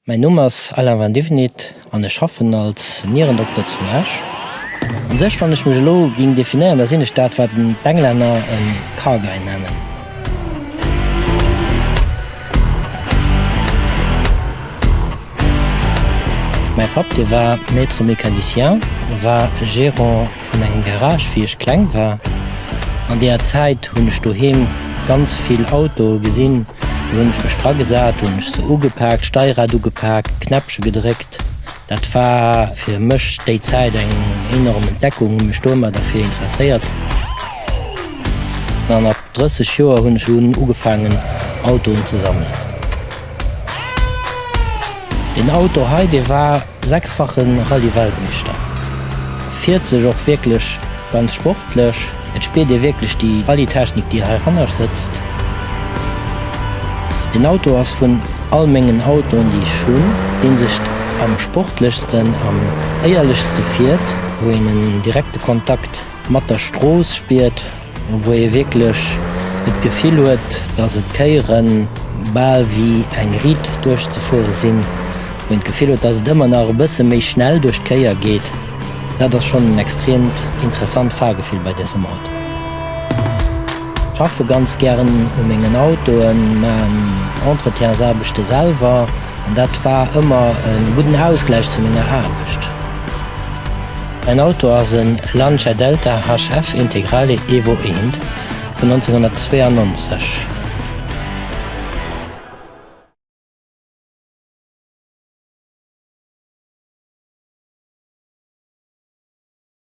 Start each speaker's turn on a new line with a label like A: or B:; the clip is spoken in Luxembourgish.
A: Mäin Numm ass Alain van Divenit an ech schaffen als Nierendokter zu Esch. An sech wann ech mech elo ging definéieren, da sinn ech dat wat d'Englänner en Car Guy nennen. Mäi Papp, dee war Maître mécanicien, war Gérant vun engem Garage wéi ech kleng war. An deeër Zäit hunn ech doheem ganz vill Autoe gesinn. Do hunn ech mech dra gesat, hunn ech se ugepaakt, d'Steierad ugepaakt, d'Knäppche gedréckt. Dat war fir mech déi Zäit eng enorm Entdeckung, hunn mech domat derfir interesséiert. An ab 30 Joer hunn ech un ugefaangen Autoen ze sammelen. Deen Auto hei, dee war sechsfache Rallye-Weltmeeschter, fiert sech och wierklech ganz sportlech. Et spiert ee wierklech déi Rallye-Technik, déi hei hannescht sëtzt. Deen Auto ass vun all mengen Autoen, déi ech hunn, dee sech am sportlechsten, am éierlechste fiert, wou een en direkte Kontakt. Mat der Strooss spiert, wou ee wierklech et Gefill huet, dass et d'Kéiere bal wéi eng Riit duerchzefuere sinn, wou een d'Gefill huet, dass et ëmmer nach e bësse méi schnell duerch d'Kéier geet, dat ass schonn en extreemt interessant Fahrgefill bei dësem Auto. Ech schaffe ganz gären u mengen Autoen, maachen Entretiensaarbechte selwer an dat war ëmmer e gudden Ausgläich zu menger Aarbecht. En Auto ass en Lancia Delta HF Integrale Evo I vun 1992.